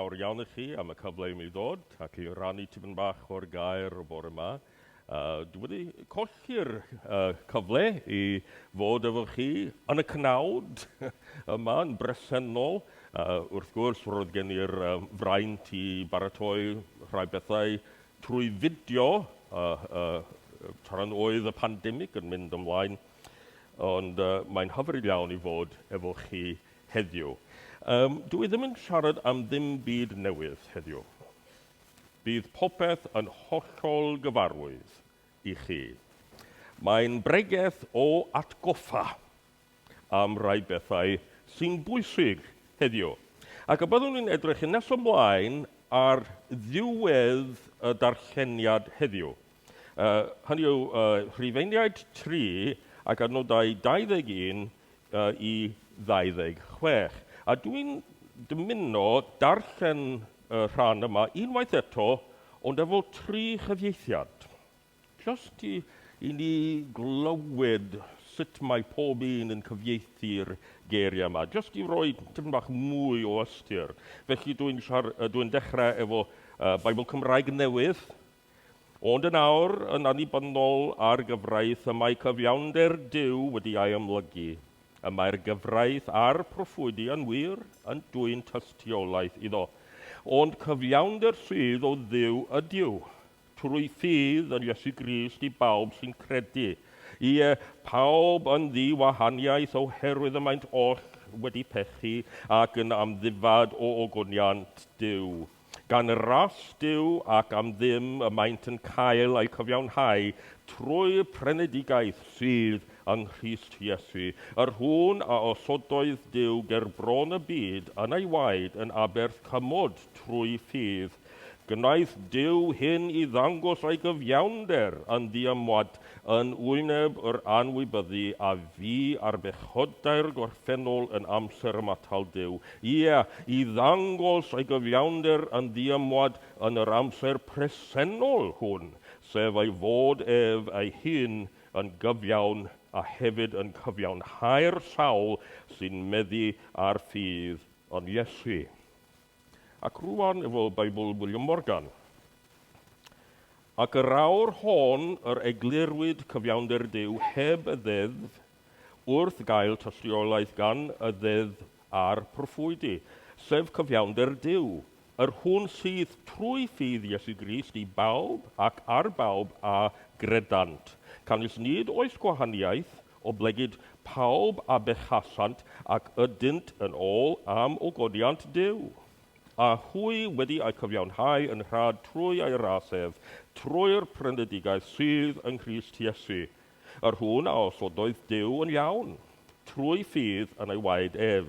Fawr iawn i chi am y cyfle i mi ddod ac i rannu tipyn bach o'r gair bore 'ma. Dwi wedi colli'r cyfle i fod efo chi yn y cnawd yma yn bresennol. Wrth gwrs, roedd gen i'r fraint i baratoi rhai bethau trwy fideo tra'n oedd y pandemig yn mynd ymlaen, ond mae'n hyfryd iawn i fod efo chi Heddiw. Yym, dw i ddim yn siarad am ddim byd newydd heddiw. Bydd popeth yn hollol gyfarwydd i chi. Mae'n bregeth o atgoffa am rai bethau sy'n bwysig heddiw. Ac y byddwn i'n edrych yn nes ymlaen ar ddiwedd y darlleniad heddiw. Yy, hynny yw, yy, Rhufeiniaid tri ac adnodau 21 i 26. A dwi'n dymuno darllen y rhan yma unwaith eto, ond efo tri chyfieithiad. Just i, i ni glywed sut mae pob un yn cyfieithu'r geiriau yma. Just i roi tipyn bach mwy o ystyr. Felly dwi'n dwi dechrau efo uh, Bible Cymraeg newydd, Ond yn awr, yn annibynnol ar gyfraith, y mae cyfiawnder Duw wedi ei amlygu. Y mae'r gyfraith a'r proffwydi yn wir yn dwyn tystiolaeth iddo. Ond cyfiawnder rhydd o Dduw ydyw, trwy ffydd yn Iesu Grist i bawb sy'n credu, ie, pawb yn ddi-wahaniaeth oherwydd y maent oll wedi pechu ac yn amddifad o ogoniant Duw. Gan y rallt yw ac am ddim y maent yn cael eu cyfiawnhau trwy Frenedigaeth sydd yng Nghrist Iesu, yr hwn a osododd Duw ger bron y byd yn ei waed yn aberth cymod trwy ffydd. Gwnaeth Duw hyn i ddangos ei gyfiawnder yn ddiymwad yn wyneb yr anwybyddu a fu ar bechodau'r gorffennol yn amser ymatal Duw, Ie, i ddangos ei gyfiawnder yn ddiymwad yn yr amser presennol hwn, sef ei fod ef ei hun yn gyfiawn a hefyd yn cyfiawnhau'r sawl sy'n meddu ar ffydd yn Iesu. Ac rŵan efo Beibl William Morgan. Ac yr awr hon yr eglurwyd cyfiawnder Duw heb y Ddeddf wrth gael tystiolaeth gan y Ddeddf a'r proffwydi, sef cyfiawnder Duw, yr hwn sydd trwy ffydd Iesu Grist i bawb ac ar bawb a gredant, canys nid oes gwahaniaeth, oblegid pawb a bechasant ac ydynt yn ôl am ogoniant Duw, a hwy wedi eu cyfiawnhau yn rhad trwy ei ras ef, trwy'r prynedigaeth sydd yng Nghrist Iesu, Yr hwn a osododd Duw yn iawn, trwy ffydd yn ei waed ef,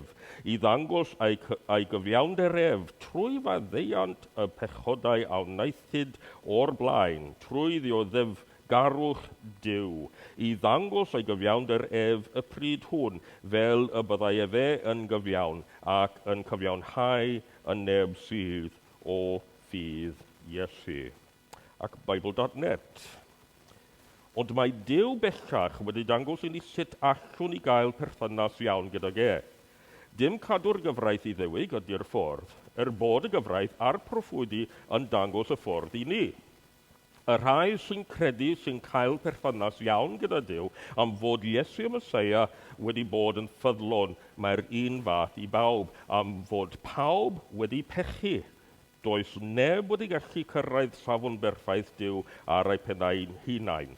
i ddangos ei, ei gyfiawnder ef, trwy faddeuant y pechodau a wnaethid o'r blaen, trwy ddioddef garwch Duw, i ddangos ei gyfiawnder ef y pryd hwn, fel y byddai efe yn gyfiawn, ac yn cyfiawnhau yn neb sydd o ffydd Iesu. ac Bible.net. Ond mae Duw bellach wedi dangos i ni sut allwn ni gael perthynas iawn gydag e. Dim cadw'r gyfraith Iddewig ydy'r ffordd, er bod y gyfraith a'r proffwydi yn dangos y ffordd i ni. Y rhai sy'n credu sy'n cael perthynas iawn gyda Duw am fod Iesu y Mesoea wedi bod yn ffyddlon, mae'r un fath i bawb, am fod pawb wedi pechu. Does neb wedi gallu cyrraedd safon berffaith Duw ar eu pennau yn hunain.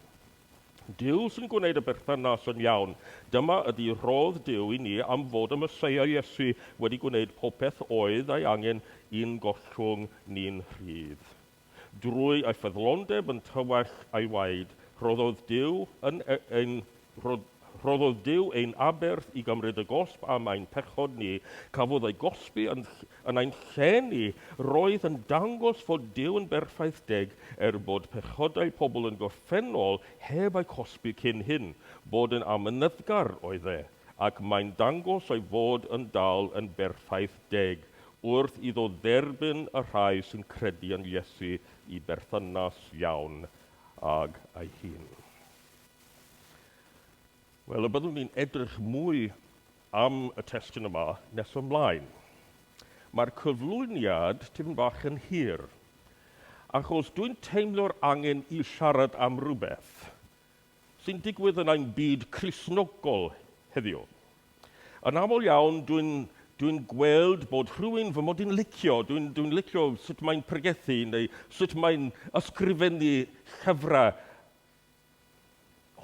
Duw sy'n gwneud y berthynas yn iawn. Dyma ydy rhodd Duw i ni am fod y Meseia Iesu wedi gwneud popeth oedd ei angen i'n gollwng ni'n rhydd. Drwy ei ffyddlondeb yn tywallt ei waed, rhoddodd Duw yn ein Rhoddodd Duw ein aberth i gymryd y gosb am ein pechod ni. Cafodd ei gosbi yn yn ein lle ni. Roedd yn dangos fod Duw yn berffaith deg, er bod pechodau pobl yn gorffennol heb eu cosbi cyn hyn. Bod yn amynyddgar oedd e, ac mae'n dangos ei fod yn dal yn berffaith deg wrth iddo dderbyn y rhai sy'n credu yn Iesu i berthynas iawn ag ei hun. Wel, y byddwn ni'n edrych mwy am y testun yma nes ymlaen. Mae'r cyflwyniad tipyn bach yn hir, achos dwi'n teimlo'r angen i siarad am rhywbeth sy'n digwydd yn ein byd Cristnogol heddiw. Yn aml iawn, dwi'n dwi gweld bod rhywun fy mod i'n licio, dwi'n dwi licio sut mae'n pregethu neu sut mae'n ysgrifennu llyfrau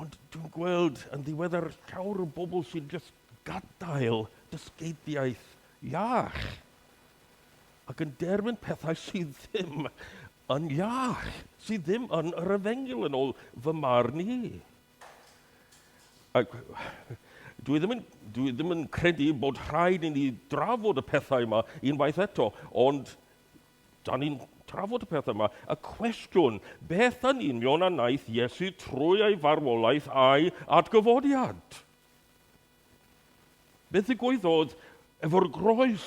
Ond dwi'n gweld yn ddiweddar llawer o bobl sy'n just gadael dysgeidiaeth iach ac yn derfyn pethau sydd ddim yn iach, sydd ddim yn yr efengyl yn ôl fy marn i. Ac dwi ddim yn, dwi ddim yn credu bod rhaid i ni drafod y pethau yma unwaith eto, ond Da ni'n trafod y peth yma, y cwestiwn, beth yn union a wnaeth Iesu trwy ei farwolaeth a'i atgyfodiad? Beth ddigwyddodd efo'r groes?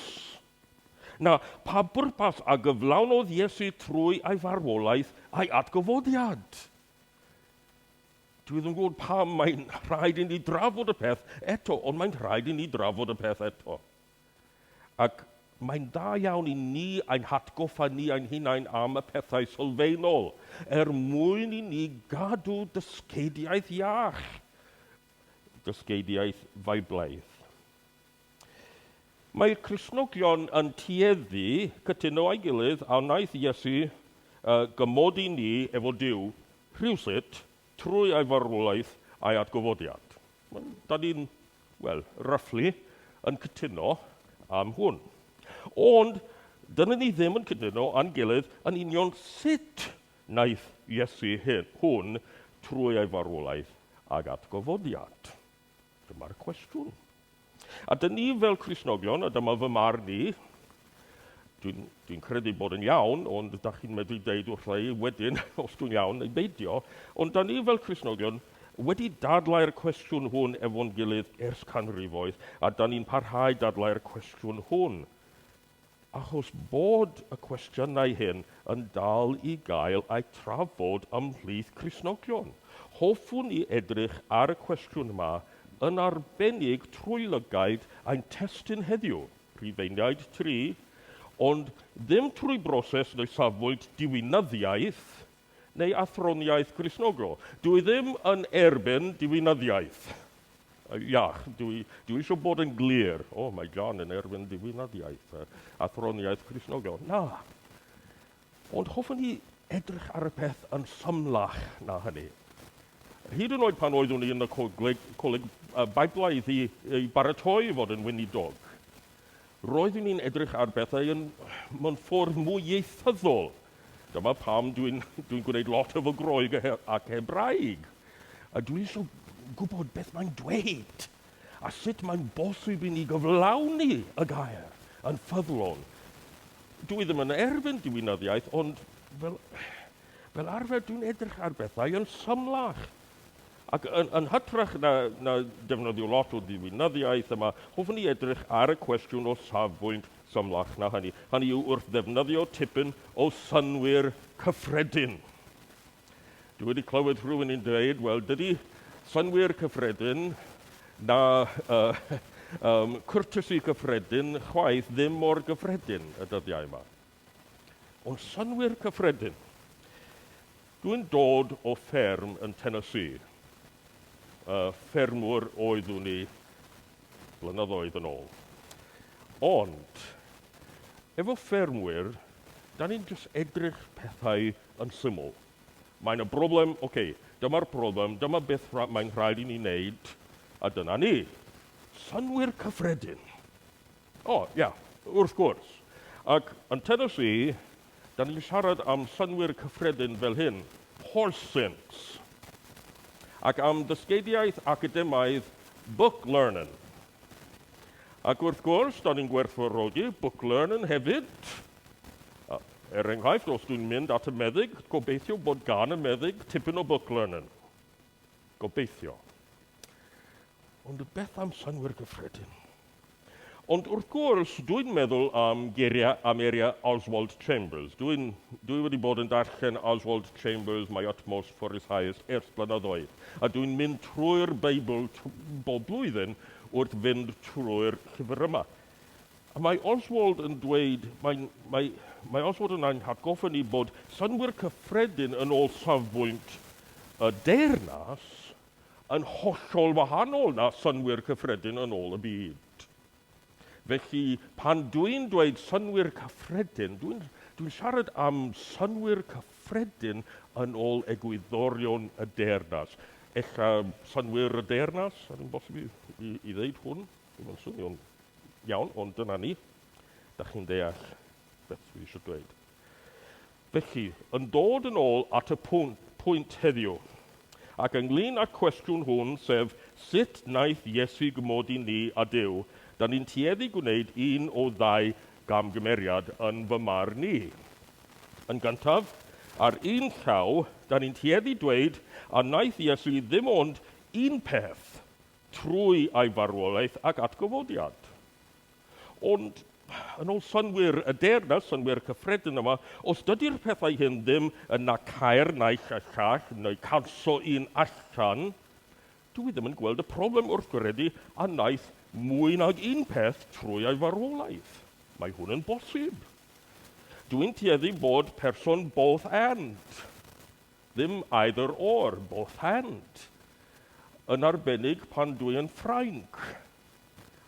Na, pa bwrpas a gyflawnodd Iesu trwy ei farwolaeth a'i atgyfodiad? Dwi ddim yn gwybod pam mae'n rhaid i ni drafod y peth eto, ond mae'n rhaid i ni drafod y peth eto. Ac mae'n dda iawn i ni ein hatgoffa ni ein hunain am y pethau sylfaenol, er mwyn i ni gadw dysgeidiaeth iach, dysgeidiaeth Feiblaidd. Mae Cristnogion yn tueddu cytuno â'i gilydd a wnaeth Iesu gymodi ni efo Duw rhywsut Trwy ei farwolaeth a'i atgyfodiad. Da ni'n, wel, roughly, yn cytuno am hwn. Ond dyna ni ddim yn cytuno â'n gilydd yn union sut wnaeth Iesu hyn, hwn trwy ei farwolaeth ag atgyfodiad. Dyma'r cwestiwn. A dyn ni fel Cristnogion, a dyma fy marn i, dwi'n dwi credu bod yn iawn, ond da chi'n medru deud wrtha i wedyn os dwi'n iawn neu beidio, ond da ni fel Cristnogion wedi dadlau'r cwestiwn hwn efo'n gilydd ers canrifoedd, a da ni'n parhau dadlau'r cwestiwn hwn. Achos bod y cwestiynau hyn yn dal i gael eu trafod ymhlith Cristnogion, hoffwn i edrych ar y cwestiwn yma yn arbennig trwy lygaid ein testun heddiw, Rhufeiniaid tri, ond ddim trwy broses neu safbwynt diwinyddiaeth, neu athroniaeth Gristnogol. Dw i ddim yn erbyn diwinyddiaeth. Iach, dw i, dw i eisiau bod yn glir. O, oh, mae John yn erbyn diwinyddiaeth, athroniaeth Gristnogol. Na. Ond hoffwn ni edrych ar y peth yn llymlach na hynny. Hyd yn oed pan oeddwn i yn y coleg, coleg Biblaidd i, i baratoi fod yn weinidog, Roeddwn i'n edrych ar bethau yn mewn ffordd mwy ieithyddol. Dyma pam dwi'n dwi'n gwneud lot efo Groeg ac Hebraeg. A dwi eisiau gwybod beth mae'n dweud a sut mae'n bosib i ni gyflawni y gair yn ffyddlon. Dwi ddim yn erfyn diwinyddiaeth, ond fel fel arfer dwi'n edrych ar bethau yn symlach. Ac yn, yn hytrach na, na defnyddio lot o ddiwinyddiaeth yma, hoffwn ni edrych ar y cwestiwn o safbwynt symlach na hynny. Hynny yw wrth ddefnyddio tipyn o synwyr cyffredin. Dwi wedi clywed rhywun yn dweud, wel, dydy synwyr cyffredin na uh, um, courtesy cyffredin chwaith ddim mor gyffredin y dyddiau yma. O'n synnwyr cyffredin. Dw i'n dod o fferm yn Tennessee. Y ffermwr oeddwn i blynyddoedd yn ôl. Ond, efo ffermwyr, da ni'n jyst edrych pethau yn syml. Mae 'na broblem, ok, dyma'r broblem, dyma beth mae'n rhaid i ni wneud, a dyna ni. Synnwyr cyffredin. O, ia, wrth gwrs. Ac yn Tennessee, da ni'n siarad am synnwyr cyffredin fel hyn, horse-sense, ac am ddysgeidiaeth academaidd book-learning. Ac wrth gwrs, da ni'n gwerthfawrogi book-learning hefyd. Er enghraifft, os dwi'n mynd at y meddyg, gobeithio bod gan y meddyg tipyn o book-learning. Gobeithio. Ond beth am synnwyr gyffredin? Ond wrth gwrs, dwi'n meddwl am geiriau am eiriau Oswald Chambers. Dwi'n dwi wedi bod yn darllen Oswald Chambers, My Utmost for His Highest, ers blynyddoedd. A dwi'n mynd trwy'r Beibl bob blwyddyn wrth fynd trwy'r llyfr yma. A mae Oswald yn dweud, mae, mae, mae Oswald yn ein hatgoffa ni bod synnwyr cyffredin yn ôl safbwynt y deyrnas yn hollol wahanol na synnwyr cyffredin yn ôl y byd. Felly, pan dwi'n dweud synnwyr cyffredin, dwi'n dwi siarad am synnwyr cyffredin yn ôl egwyddorion y deyrnas. Ella synnwyr y deyrnas, ar un bosib i, i, i ddeud hwn. Ddim yn swnio'n iawn, ond dyna ni. Da chi'n deall beth dwi eisiau dweud. Felly, yn dod yn ôl at y pwynt, pwynt heddiw, ac ynglyn â'r cwestiwn hwn, sef sut naeth Iesu gymodi ni a Duw, da ni'n tueddu gwneud un o ddau gamgymeriad yn fy marn ni. Yn gyntaf, ar un llaw, da ni'n tueddu dweud a naeth Iesu ddim ond un peth, trwy ei farwolaeth ac atgyfodiad. Ond, yn ôl synnwyr y Deyrnas, synnwyr cyffredin yma, os dydy'r pethau hyn ddim yn na caer naill a llall, neu canso un allan, dw i ddim yn gweld y problem wrth gredu a wnaeth mwy nag un peth trwy ei farwolaeth. Mae hwn yn bosib. Dw i'n tueddu bod person both and. Ddim either or, both and. Yn arbennig pan dw i yn Ffrainc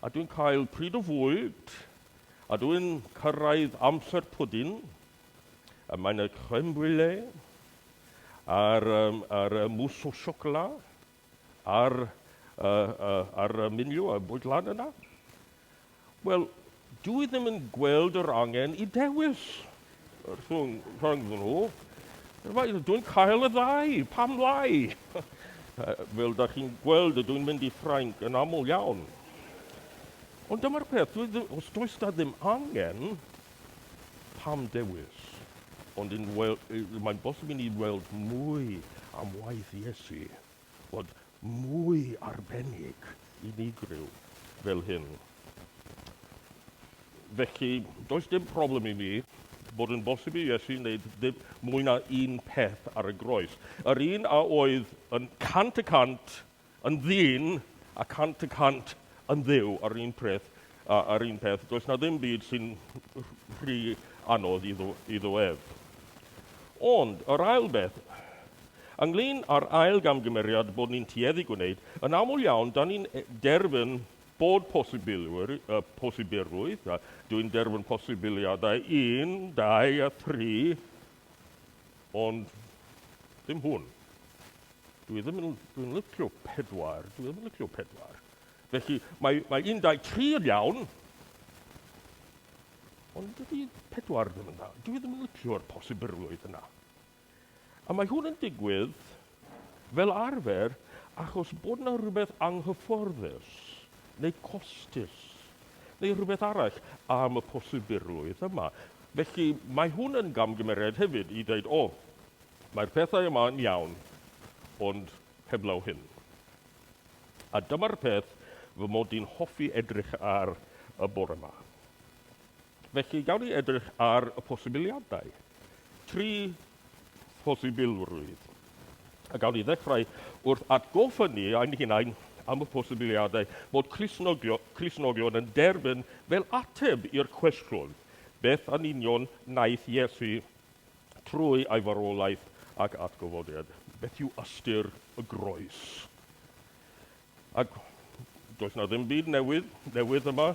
a dwi'n cael pryd o fwyd a dw i'n cyrraedd amser pwdin, y mae 'na crème brûlée a'r yym a'r yy mousse au chocolat. Ar y, y, ar y miliw a bwyd lan yna? Wel, dwi ddim yn gweld yr angen i dewis rhwng, rhwng nhw. Dwi'n cael y ddau, pam lai? Fel da chi'n gweld, ydw i'n mynd i Ffrainc yn aml iawn. Ond dyma'r peth, dwi, os does da ddim angen, Pam dewis? Ond yn wel, mae'n bosib i ni weld mwy am waith Iesu, bod mwy arbennig, unigryw, fel hyn. Felly, does dim problem i mi bod yn bosib i Iesu wneud ddim mwy na un peth ar y groes. Yr un a oedd yn cant y cant Yn ddyn, a cant y cant yn Dduw a'r un preth, a, a'r un peth, does 'na ddim byd sy'n rhy anodd iddo, iddo ef. Ond, yr ail beth, ynglyn â'r ail gamgymeriad bod ni'n tueddu gwneud, yn aml iawn, da ni'n e, derfyn bod posibilwyr, uh, posibilrwydd, a dwi'n derfyn posibiliadau un, dau a thri, ond ddim hwn. Dwi ddim yn, dwi'n licio pedwar, dwi ddim yn licio pedwar. Felly, mae, mae 13 yn iawn, ond dydy pedwar ddim yn dda. Dwi ddim yn licio'r posibilrwydd yna. A mae hwn yn digwydd fel arfer achos bod yna rhywbeth anghyfforddus neu costus neu rhywbeth arall am y posibilrwydd yma. Felly mae hwn yn gamgymeriad hefyd i dweud, o, Mae'r pethau yma yn iawn, ond heblaw hyn. A dyma'r peth fy mod i'n hoffi edrych ar y bore 'ma. Felly, gawn ni edrych ar y posibiliadau. Tri phosibilrwydd. A gawn ni ddechrau wrth atgoffa ni ein hunain am y posibiliadau bod Cristnogion yn derbyn fel ateb i'r cwestiwn, beth yn union wnaeth Iesu trwy ei farwolaeth ac atgyfodiad. Beth yw ystyr y groes? Ac does na ddim byd newydd, newydd yma.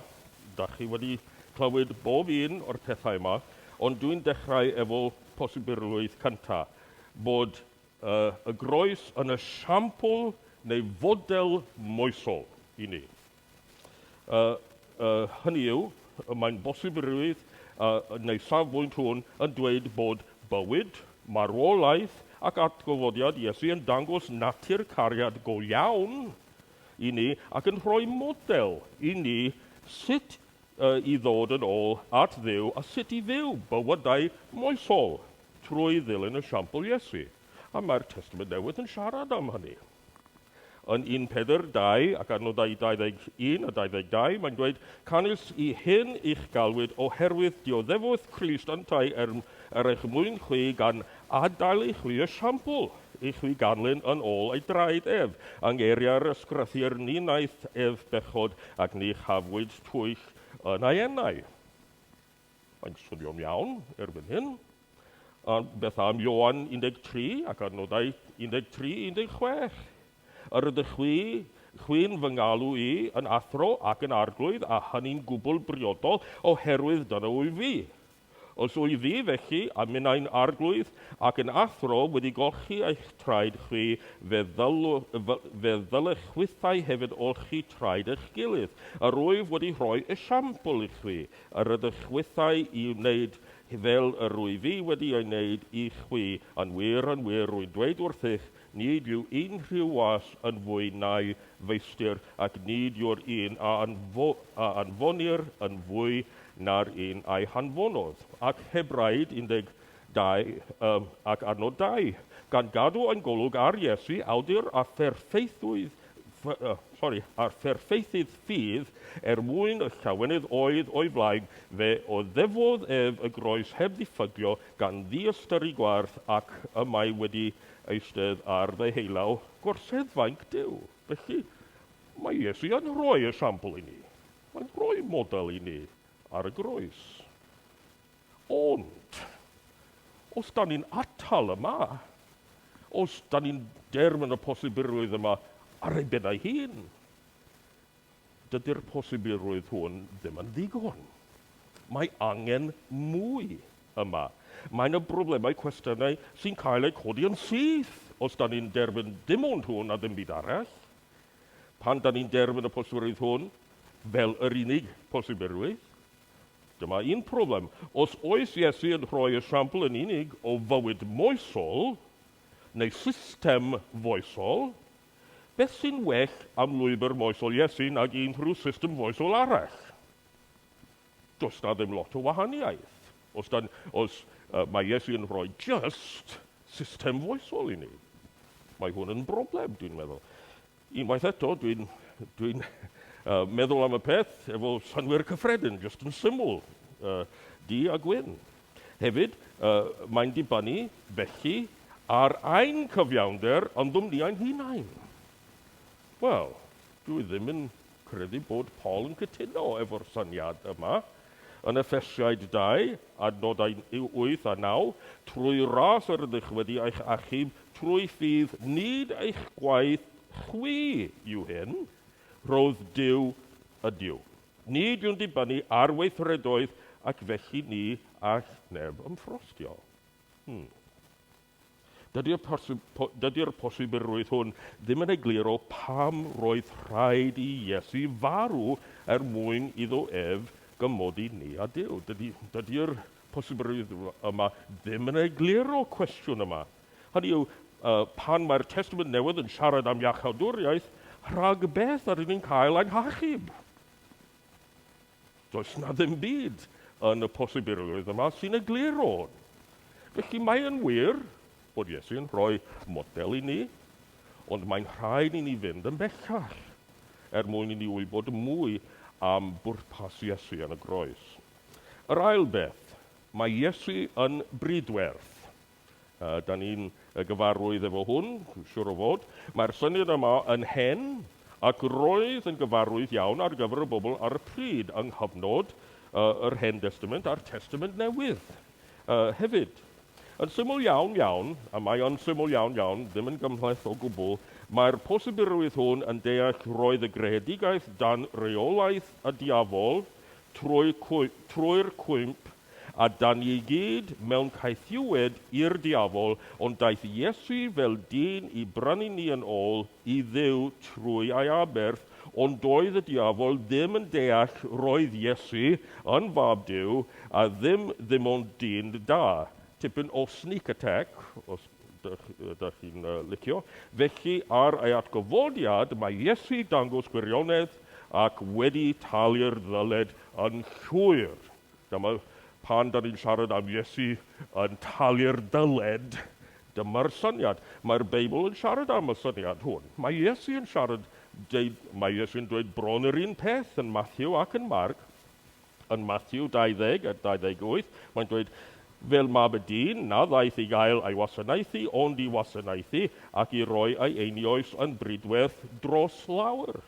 Da chi wedi clywed bob un o'r pethau yma, ond dwi'n dechrau efo posibilrwydd cynta, bod uh, y groes yn y siampl neu fodel moesol i ni. A a hynny yw, mae'n bosib y rwyf, a yn ei safbwynt hwn, yn dweud bod bywyd, marwolaeth ac atgyfodiad Iesu yn dangos natur cariad go iawn i ni ac yn rhoi model i ni sut i ddod yn ôl at Dduw a sut i fyw bywydau moesol trwy ddilyn esiampl Iesu. A mae'r Testament Newydd yn siarad am hynny. Yn 1.42 ac ar nodau 21 a 22, mae'n dweud, Canys i hyn i'ch galwyd oherwydd dioddefwth Crist yntau er, er eich mwyn chwi gan adael i chwi esiampl i chwi ganlyn yn ôl ei draed ef, yng ngeiriau'r ysgrythur ni wnaeth ef bechod ac ni chafwyd twyll yn ei enau. Mae'n swnio'n iawn erbyn hyn. A beth am Ioan 13 ac adnodau 13 i 16? Yr ydych chwi, chwi'n fy ngalw i yn athro ac yn arglwydd, a hynny'n gwbl briodol, oherwydd dyna wyf fi. Os wyf fi, felly, a minnau'n arglwydd ac yn athro, wedi golchi eich traed chwi, fe, ddylw, fe ddylech chwithau hefyd olchi traed eich gilydd. Yr wyf wedi rhoi esiampl i chwi, a rydych chwithau i'w wneud fel yr rwy fi wedi ei wneud i chwi, yn wir, yn wir, rwy'n dweud wrthych, nid yw unrhyw was yn fwy na'i feistr, ac nid yw'r un a anfonir yn fwy na'r un a'i hanfonodd. Ac Hebraid 12, ac adnod dau, gan gadw ein golwg ar Iesu, awdur a pherffeithiwyd sori, a'r fferffeithydd ffydd, er mwyn y llawenydd oedd o'i flaen, fe oddefodd ef y groes heb ddiffygio, gan ddiystyru gwarth, ac y mae wedi eistedd ar ddeheulaw gorseddfainc Duw. Felly, mae Iesu yn rhoi esiampl i ni. Mae'n rhoi model i ni ar y groes. Ond, os dan ni'n atal yma, os dan ni'n derfyn y posibilrwydd yma ar ei ben ei hun, dydy'r posibilrwydd hwn ddim yn ddigon. Mae angen mwy yma. Mae yna broblemau, cwestiynau sy'n cael eu codi yn syth os dan ni'n derfyn dim ond hwn a ddim byd arall. Pan dan ni'n derfyn y posibilrwydd hwn fel yr unig posibilrwydd, Dyma un problem, os oes Iesu yn rhoi esiampl yn unig o fywyd moesol, neu system foesol, beth sy'n well am lwybr moesol Iesu nag unrhyw system foesol arall? Does 'na ddim lot o wahaniaeth, os dan, os uh, mae Iesu yn rhoi just system foesol i ni. Mae hwn yn broblem, dwi'n meddwl. Unwaith eto, dwi'n dwi meddwl am y peth efo synnwyr cyffredin, jyst yn syml, uh, di a gwyn. Hefyd, uh, mae'n dibynnu, felly, ar ein cyfiawnder yn ddwmniau'n hunain. Wel, dwi ddim yn credu bod Paul yn cytuno efo'r syniad yma. Yn Effesiaid 2, adnodau 8 a 9, Trwy ras yr ydych wedi eich achub trwy ffydd, nid eich gwaith chwi yw hyn, rhodd Duw ydyw. Nid yw'n dibynnu ar weithredoedd ac felly ni all neb ymffrostio. Hmm. Dydy'r posibilrwydd hwn ddim yn egluro pam roedd rhaid i Iesu farw er mwyn iddo ef gymodi ni a Duw. Dydy'r posibilrwydd yma ddim yn egluro'r cwestiwn yma, hynny yw, pan mae'r Testament Newydd yn siarad am iachawdwriaeth, rhag beth yr ydyn ni'n cael ein hachub? Does 'na ddim byd yn y posibilrwydd yma sy'n egluro hwn. Felly mae yn wir bod Iesu yn rhoi model i ni, ond mae'n rhaid i ni fynd yn bellach er mwyn i ni wybod mwy am bwrpas Iesu yn y groes. Yr ail beth, mae Iesu yn bridwerth. Uh, da ni'n gyfarwydd efo hwn, siwr o fod. Mae'r syniad yma yn hen, ac roedd yn gyfarwydd iawn ar gyfer y bobl ar y pryd yng nghyfnod uh, yr Hen Testament a'r Testament Newydd. Uh, hefyd, yn syml iawn iawn, a mae o'n syml iawn iawn, ddim yn gymhleth o gwbl, mae'r posibilrwydd hwn yn deall roedd y greadigaeth dan reolaeth y diafol trwy'r cwymp A da ni i gyd mewn caethiwed i'r diafol, ond daeth Iesu fel dyn i brynu ni yn ôl i Dduw trwy ei aberth, ond doedd y diafol ddim yn deall roedd Iesu yn fab Duw a ddim ddim ond dyn da, tipyn o sneak attack os ydych chi'n licio, felly ar ei atgyfodiad mae Iesu dangos gwirionedd ac wedi talu'r ddyled yn llwyr. Dyma, pan dan ni'n siarad am Iesu yn talu'r dyled, dyma'r syniad. Mae'r Beibl yn siarad am y syniad hwn. Mae Iesu yn siarad, deud, mae Iesu'n dweud bron yr un peth yn Matthew ac yn Marc. Yn Matthew 20 a 28, mae'n dweud, fel mab y dyn, na ddaeth i gael ei wasanaethu, ond i wasanaethu, ac i roi ei einioes yn bridwerth dros lawer.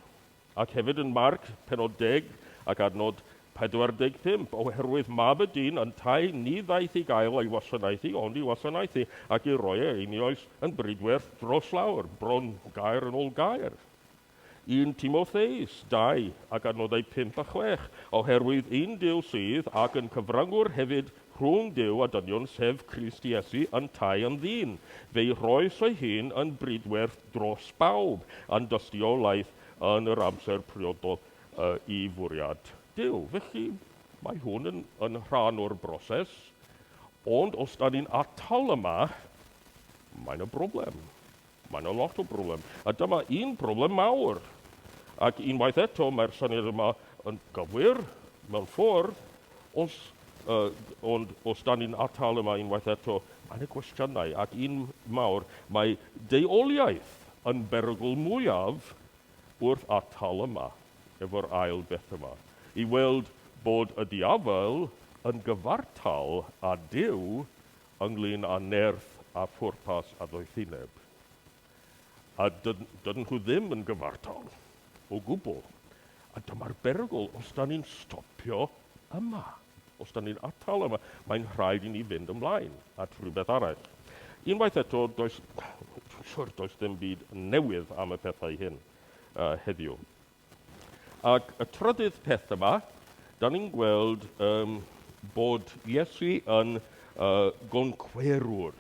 ac hefyd yn Marc, pennod deg ac adnod 45, oherwydd mab y dyn yntau, ni ddaeth i gael ei wasanaethu, ond i wasanaethu, ac i roi ei einioes yn brydwerth dros lawr, bron gair yn ôl gair. Un Timotheus, dau, ac adnodau pump a chwech, oherwydd un Duw sydd, ac yn cyfrangwr hefyd, rhwng Duw a dynion sef Crist Iesu yntau yn ddyn, fe'i rhoes ei hun yn brydwerth dros bawb, yn dystiolaeth yn yr amser priodol i fwriad Duw. Felly, mae hwn yn, yn rhan o'r broses, ond os da ni'n atal yma, mae na broblem. Mae yna lot o broblem, a dyma un broblem mawr. Ac unwaith eto, mae'r syniad yma yn gywir mewn ffordd, os, uh, ond os da ni'n atal yma unwaith eto, mae yna gwestiynau, ac un mawr, mae deuoliaeth yn berygl mwyaf wrth atal yma, efo'r ail beth yma, i weld bod y diafel yn gyfartal â Duw ynglŷn â nerth a phwrpas a doethineb, a dydyn nhw ddim yn gyfartal o gwbl, a dyma'r berygl os dan ni'n stopio yma, os dan ni'n atal yma, mae'n rhaid i ni fynd ymlaen at rywbeth arall. Unwaith eto, does, dwi'n siŵr, does dim byd newydd am y pethau hyn heddiw. Ac y trydydd peth yma, da ni'n gweld um, bod Iesu yn uh, goncwerwr,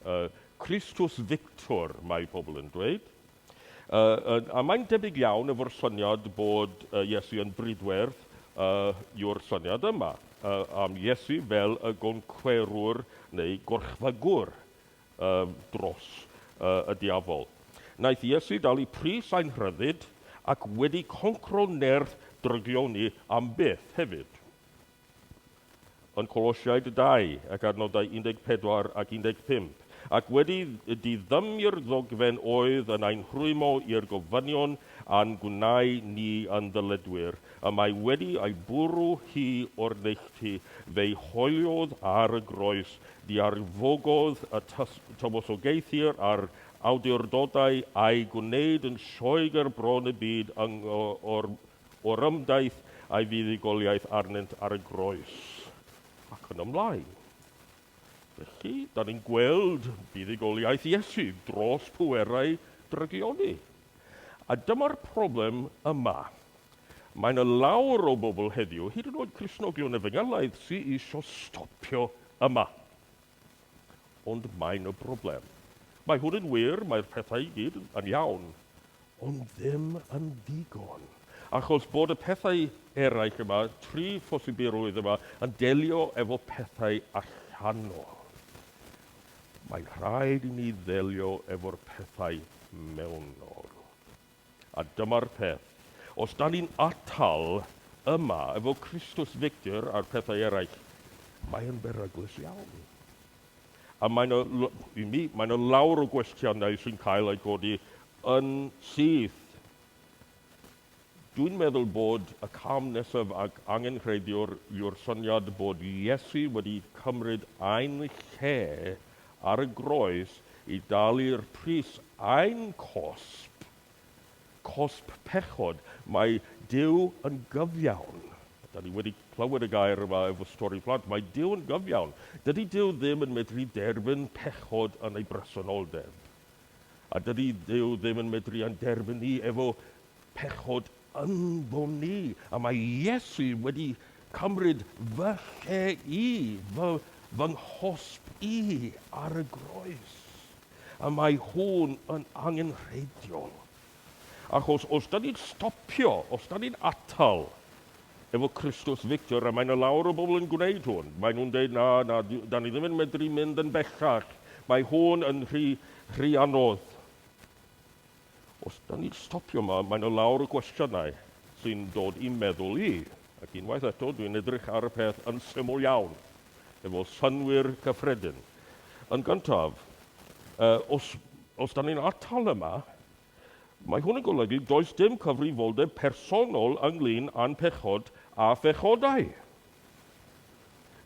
uh, Christus Victor, mae pobl yn dweud. Uh, a mae'n debyg iawn efo'r syniad bod uh, Iesu yn bridwerth uh, yw'r syniad yma uh, am Iesu fel y goncwerwr neu gorchfygwr Ym dros y diafol. Naeth Iesu dalu pris ein rhyddid ac wedi concro nerth dryglio ni am byth, hefyd. Yn Colosiaid 2 ac adnodau 14 ac 15, Ac wedi diddymu'r ddogfen oedd yn ein rhwymo i'r gofynion a'n gwneu ni yn ddyledwyr, y mae wedi ei bwrw hi o'r neilltu, fe'i hoeliodd ar y groes Diarfogodd y tywysogaethir a'r awdurdodau a'i gwneud yn sioe ger bron y byd yng Ngho'r Orymdaith a'i fuddugoliaeth arnynt ar y groes, ac yn ymlaen. Felly, da ni'n gweld buddugoliaeth Iesu dros pwerau drygioni. A dyma'r problem yma. Mae 'na lawr o bobl heddiw, hyd yn oed Cristnogion Efengylaidd, sy isio stopio yma. Ond mae 'na broblem. Mae hwn yn wir, mae'r pethau i gyd yn iawn, ond ddim yn ddigon. Achos bod y pethau eraill yma, tri phosibilrwydd yma, yn delio efo pethau allanol. Mae'n rhaid i ni ddelio efo'r pethau mewnol. A dyma'r peth, os dan ni'n atal yma efo Christus Victor a'r pethau eraill, mae yn beryglus iawn. A mae yna, i mi, mae yna lawr o gwestiynau sy'n cael eu codi yn syth. Dwi'n meddwl bod y cam nesaf ac angenrheidiwr yw'r syniad bod Iesu wedi cymryd ein lle ar y groes i dalu'r pris ein cosb, cosb pechod. Mae Duw yn gyfiawn. Da ni wedi clywed y gair yma efo stori plant. Mae Duw yn gyfiawn. Dydy Duw ddim yn medru derbyn pechod yn ei bresenoldeb. A dydy Duw ddim yn medru ein derbyn ni efo pechod ynddo'n ni. A mae Iesu wedi cymryd fy lle i, fy, fy nghosb i ar y groes. A mae hwn yn angenrheidiol. Achos os da ni'n stopio, os da ni'n atal Efo Christus Victor, a mae 'na lawer o bobl yn gwneud hwn, maen nhw'n deud, na, na, 'dan ni ddim yn medru mynd yn bellach, mae hwn yn rhy, rhy anodd. Os 'dan ni'n stopio yma, mae 'na lawer o gwestiynau sy'n dod i'm meddwl i, ac unwaith eto, dwi'n edrych ar y peth yn syml iawn, efo synnwyr cyffredin. Yn gyntaf, os, os 'dan ni'n atal yma, Mae hwn yn golygu does dim cyfrifoldeb personol ynglŷn â'n pechod a phechodau.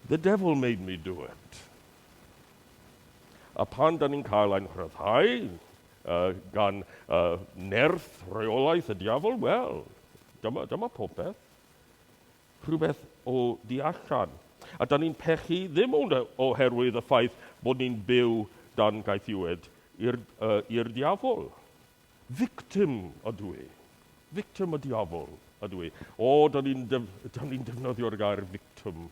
The devil made me do it. A pan da ni'n cael ein rhyddhau uh, gan uh, nerth reolaeth y diafol, wel, dyma, dyma popeth. rhywbeth o du allan, a dan ni'n pechu ddim ond oherwydd y ffaith bod ni'n byw dan gaethiwed i'r uh, i'r diafol. Victim ydw i. Victim y diafol ydw i. O, dan ni'n def, ni defnyddio'r gair victim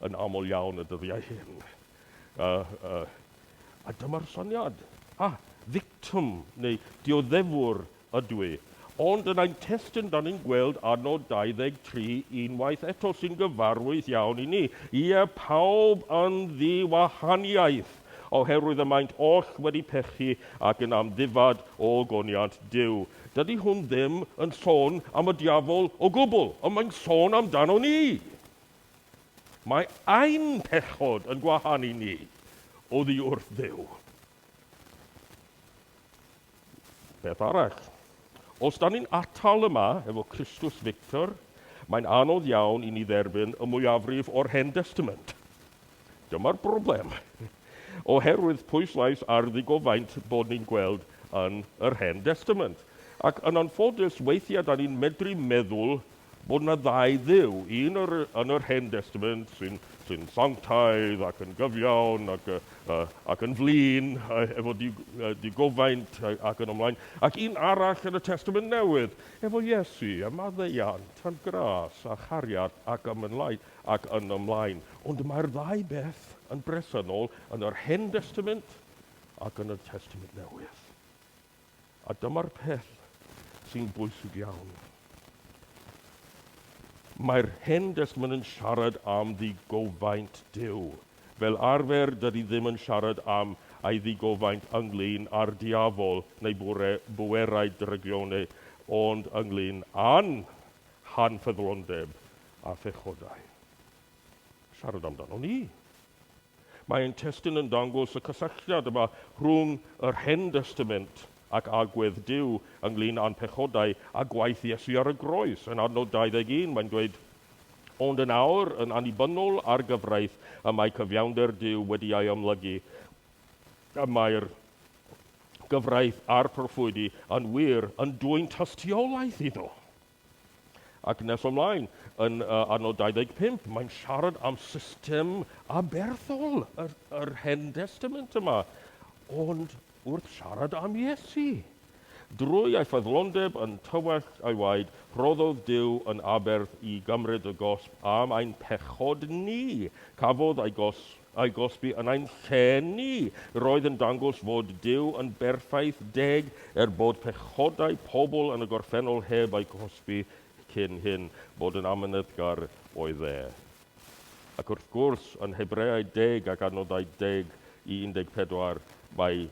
yn aml iawn y dyddiau hyn. Uh, uh, a dyma'r syniad. Ah, victim neu dioddefwr Ydw i. Ond yn ein testun dan ni'n gweld adnod 23 unwaith eto sy'n gyfarwydd iawn i ni, Ie, pawb yn ddi-wahaniaeth, oherwydd y maent oll wedi pechu ac yn amddifad o ogoniant Duw. Dydy hwn ddim yn sôn am y diafol o gwbl, ond mae'n sôn amdano ni. Mae ein pechod yn gwahanu ni oddi wrth Dduw. Beth arall? Os da ni'n atal yma efo Christus Victor, mae'n anodd iawn i ni dderbyn y mwyafrif o'r Hen Destament. Dyma'r broblem. Oherwydd pwyslais ar ddigofaint bod ni'n gweld yn yr Hen Destament. Ac yn anffodus, weithiau da ni'n medru meddwl bod yna ddau Dduw, un yr, yn yr Hen Destament sy'n sy sanctaidd ac yn gyfiawn ac, uh, ac yn flin uh, efo di, uh, digofaint ac yn ymlaen, ac un arall yn y Testament Newydd efo Iesu a maddeiant a'n gras a chariad ac am yn lai ac yn ymlaen. Ond mae'r ddau beth yn bresennol yn yr Hen Destament ac yn y Testament Newydd. A dyma'r peth sy'n bwysig iawn. Mae'r Hen Destament yn siarad am ddigofaint Duw. Fel arfer, dydy ddim yn siarad am ei ddigofaint ynglŷn â'r diafol neu bwre, bwerau dryglioneu, ond ynglŷn â'n hanffyddlondeb a phechodau. Siarad amdano ni. Mae ein testun yn dangos y cysylltiad yma rhwng yr Hen Destament ac agwedd Duw ynglŷn â'n pechodau a gwaith Iesu ar y groes. Yn adnod 21, mae'n dweud, Ond yn awr, yn annibynnol ar gyfraith, y mae cyfiawnder Duw wedi ei amlygu, y mae'r gyfraith a'r proffwydi yn wir yn dwyn tystiolaeth iddo. Ac nes ymlaen, yn uh, adnod 25, mae'n siarad am system aberthol yr, yr Hen Testament yma. Ond wrth siarad am Iesu, drwy ei ffyddlondeb yn tywell ei waed, rhoddodd Dyw yn aberth i gymryd y gosb am ein pechod ni. Cafodd ei gosb a'i gosbi yn ein lle ni, roedd yn dangos fod Duw yn berffaith deg, er bod pechodau pobl yn y gorffennol heb eu cosbi cyn hyn, bod yn amyneddgar oedd e. Ac wrth gwrs, yn Hebreaid deg ac adnodau deg i 14, mae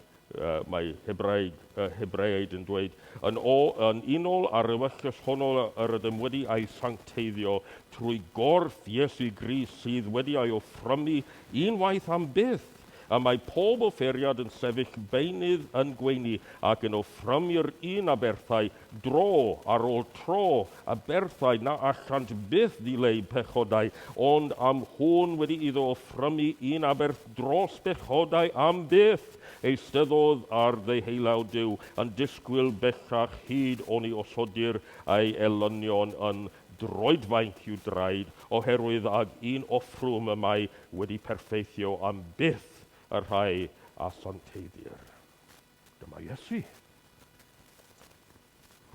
mae Hebraeg, y Hebreaid yn dweud, yn, o, yn unol ar ewyllys honno yr ydym wedi a'i sancteiddio trwy gorff Iesu Gris sydd wedi a'i offrymu unwaith am byth, y mae pob offeriad yn sefyll beunydd yn gweini ac yn offrymu'r un aberthau Dro ar ôl tro, aberthau na allant byth ddileu pechodau, ond am hwn wedi iddo offrymu un aberth dros bechodau am byth, eisteddodd ar ddeheulawd Duw, yn disgwyl bellach hyd oni osodir ei elynion yn droedfainc i'w draed, oherwydd ag un offrwm y mae wedi perffeithio am byth y rhai a santeiddir. Dyma Iesu.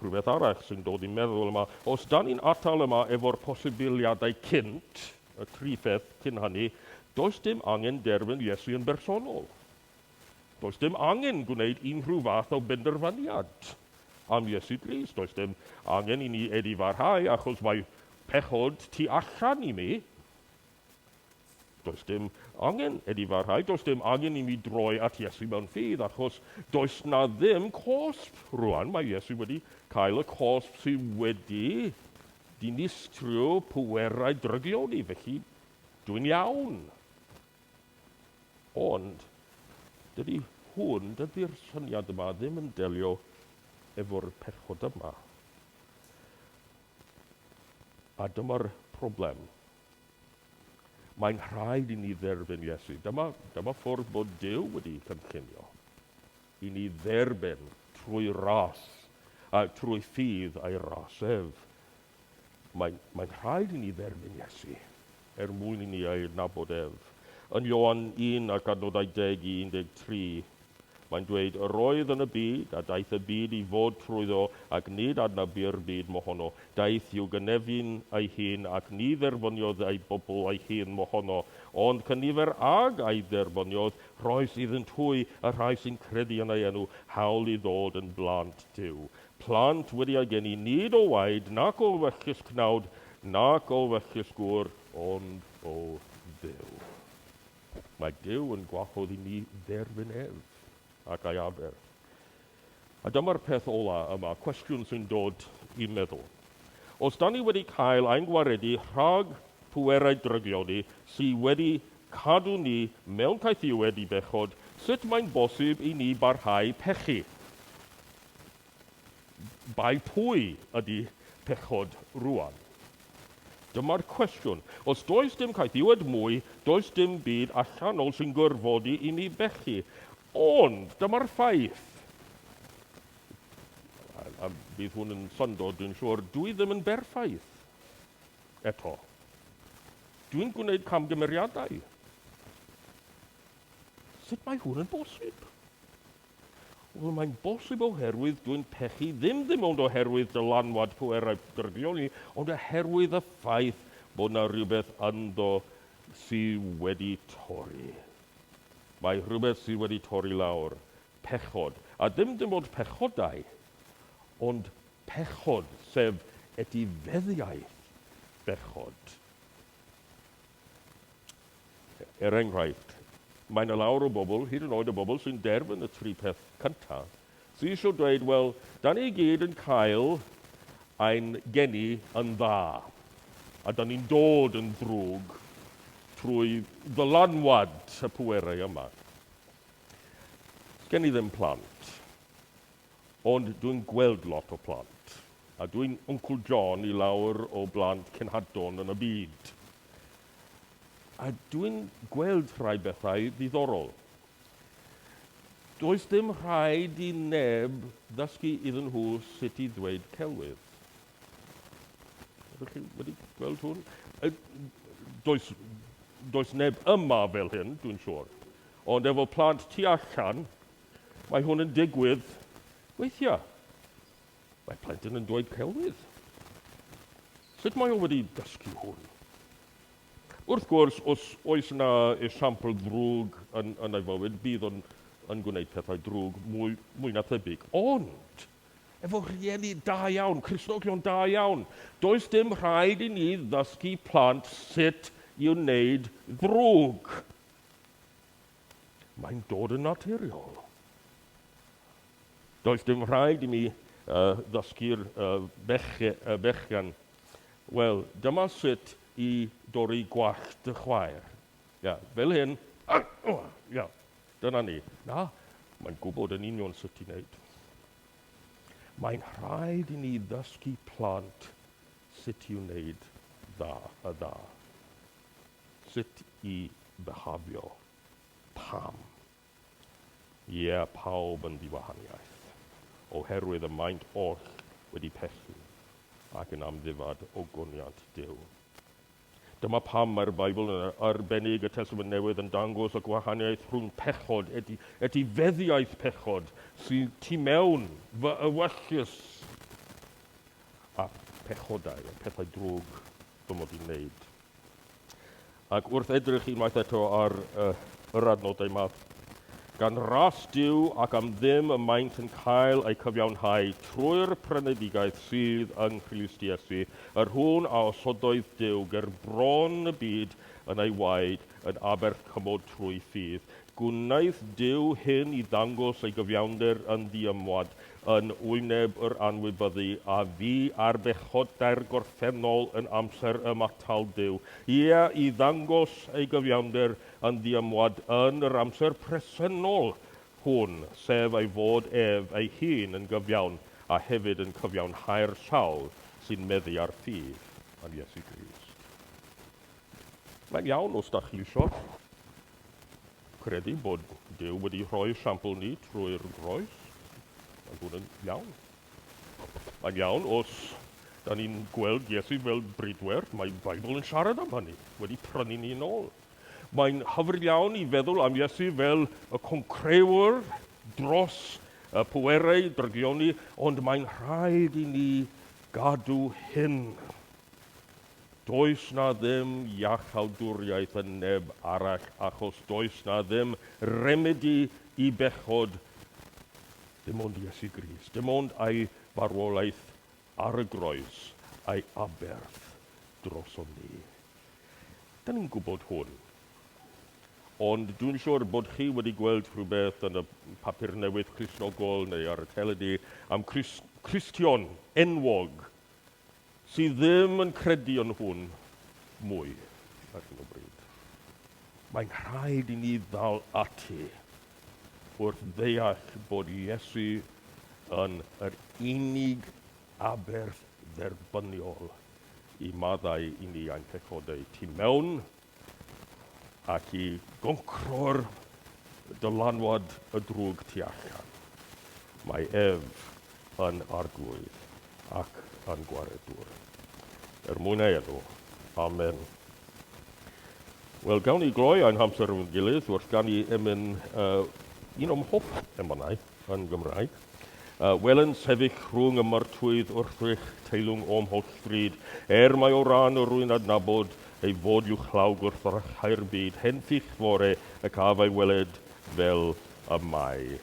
Rhywbeth arall sy'n dod i'n meddwl yma, os da ni'n atal yma efo'r posibiliadau cynt, y tri pheth cyn hynny, does dim angen derfyn Iesu yn bersonol. Does dim angen gwneud unrhyw fath o benderfyniad am Iesu Grist. Does dim angen i ni edifarhau achos mae pechod tu allan i mi. Does dim angen i ni farhau, does dim angen i ni droi at Iesu mewn ffydd, achos does na ddim cosb rwan. Mae Iesu wedi cael y cosb sydd wedi dinistrio pwerau drygion i, felly dwi'n iawn. Ond, dydy hwn, dydy'r syniad yma ddim yn delio efo'r pechodau yma. A dyma'r problem. Mae'n rhaid i ni dderbyn Iesu. Dyma, dyma ffwrdd bod Duw wedi cynllunio i ni dderbyn trwy ras, a trwy ffydd a'i ras ef. Mae'n, mae'n rhaid i ni dderbyn Iesu er mwyn i ni ei adnabod ef. Yn Ioan 1 ac adnodau 10 i 13, Mae'n dweud, Yr oedd yn y byd, a daeth y byd i fod trwyddo, ac nid adnab bu'r byd mohono. Daeth i'w gynefin ei hun, ac ni dderbyniodd ei bobl ei hun mohono. Ond cynifer ag a dderbyniodd, rhoes iddynt hwy, y rhai sy'n credu yn ei enw, hawl i ddod yn blant Duw. Plant wedi ei geni nid o waed, nac o wellus cnawd, nac o wellus gŵr, ond o Dduw. Mae Duw yn gwahodd i ni dderbyn ef, ac a'i aber. A dyma'r peth ola yma, cwestiwn sy'n dod i'm meddwl. Os da ni wedi cael ein gwaredu rhag pwerau drygioni sy wedi cadw ni mewn caethiwed i bechod, sut mae'n bosib i ni barhau pechu? Bai pwy ydy pechod rwan? Dyma'r cwestiwn. Os does dim caethiwed mwy, does dim byd allanol sy'n gorfodi i ni bechu. Ond, dyma'r ffaith. A, a bydd hwn yn syndod, dwi'n siŵr, dwi ddim yn berffaith. Eto. Dwi'n gwneud camgymeriadau. Sut mae hwn yn bosib? Wel, mae'n bosib oherwydd dwi'n pechu ddim ddim ond oherwydd dylanwad pwerau drygion ni, ond oherwydd y ffaith bod yna rhywbeth ynddo sy wedi torri. Mae rhywbeth sydd wedi torri lawr, pechod, a ddim dim ond pechodau, ond pechod, sef etifeddiaeth bechod. Er enghraifft, mae yna lawr o bobl, hyd yn oed y bobl sy'n derfyn y tri peth cyntaf, sy eisiau dweud, wel, da ni i gyd yn cael ein geni yn dda, a da ni'n dod yn ddrwg trwy ddylanwad y pwerau yma. Sgen i ddim plant. Ond dwi'n gweld lot o plant, a dwi'n Wncwl John i lawer o blant cenhadon yn y byd. A dwi'n gweld rhai bethau ddiddorol. Does dim rhaid i neb ddysgu iddyn nhw sut i ddweud celwydd. Ydych chi wedi gweld hwn? Does, does neb yma fel hyn, dwi'n siŵr. Ond efo plant tu allan, Mae hwn yn digwydd weithia. Mae plentyn yn dweud celwydd. Sut mae o wedi dysgu hwn? Wrth gwrs, os oes yna esiampl ddrwg yn, yn ei fywyd, bydd o'n yn gwneud pethau drwg mwy, mwy na thebyg. Ond, efo rhieni da iawn, Cristnogion da iawn, does dim rhaid i ni ddysgu plant sut i wneud ddrwg. Mae'n dod yn naturiol. Does dim rhaid i mi uh, ddysgu'r uh, bechgan. Wel, dyma sut i dorri gwallt dy chwaer. Ia, fel hyn. Ia, dyna ni. Na, mae'n gwybod yn union sut i wneud. Mae'n rhaid i ni ddysgu plant sut i wneud dda, y dda. Sut i bihafio, pam? Ie, pawb yn ddiwahaniaeth, oherwydd y maent oll wedi pechu ac yn amddifad o goniant Duw. Dyma pam mae'r Beibl, yn arbennig y Testament Newydd, yn dangos y gwahaniaeth rhwng pechod, eti, etifeddiaeth pechod, sydd tu mewn fy ewyllys, a phechodau, y pethau drwg fy mod i'n wneud. Ac wrth edrych unwaith eto ar uh, yr adnodau yma, gan ras diw ac am ddim y maent yn cael eu cyfiawnhau trwy'r prenedigaeth sydd yng Nghrist Iesu, yr hwn a osodoedd Dyw ger bron y byd yn ei waed yn aberth cymod trwy ffydd, Gwnaeth Duw hyn i ddangos ei gyfiawnder yn ddiymwad yn wyneb yr anwybyddu a fu ar bechodau'r gorffennol yn amser ymatal Duw, ie, i ddangos ei gyfiawnder yn ddiymwad yn yr amser presennol hwn, sef ei fod ef ei hun yn gyfiawn a hefyd yn cyfiawnhau'r sawl sy'n meddu ar ffydd yn Iesu Grist. Mae'n iawn os da chi isio. Credu bod Duw wedi rhoi sampl ni trwy'r groes. Mae hwn yn iawn. Mae'n iawn os da ni'n gweld Iesu fel bridwerth, mae Bible yn siarad am hynny, wedi prynu ni yn ôl. Mae'n hyfryd iawn i feddwl am Iesu fel y concrewr dros y pwerau drygioni, ond mae'n rhaid i ni gadw hyn Does na ddim iachawdwriaeth yn neb arall achos does na ddim remedi i bechod dim ond Iesu Grist, dim ond ei farwolaeth ar y groes a'i aberth drosom ni. Da ni'n gwybod hwn. Ond dwi'n siŵr bod chi wedi gweld rhywbeth yn y papur newydd Cristnogol neu ar y teledu am Cristion enwog sydd ddim yn credu yn hwn mwy ar hyn o bryd. Mae'n rhaid i ni ddal ati wrth ddeall bod Iesu yn yr unig aberth dderbyniol i maddau i ni a'n pechodau tu mewn ac i goncro'r dylanwad y drwg tu allan. Mae ef yn arglwydd ac yn gwaredwr. Er mwyn ei enw. Amen. Wel, gawn ni gloi ein hamser efo'n gilydd, wrth gan i emyn uh, un o'm hoff emanau. yn Gymraeg. Wel yn sefyll rhwng y martwydd wrthrych teilwng o'm holl fryd, er mae o ran yr rwy'n adnabod ei fod i'w chlaw gwrthrychau'r byd, henffych fore y caf a'i weled fel y mae.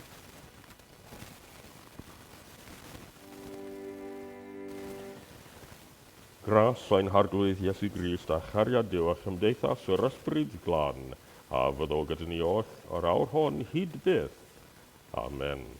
Gras ein Harglwydd Iesu Grist a chariad Duw a chymdeithas yr Ysbryd Glân, a fyddo gyda ni oll yr awr hon hyd byth, Amen.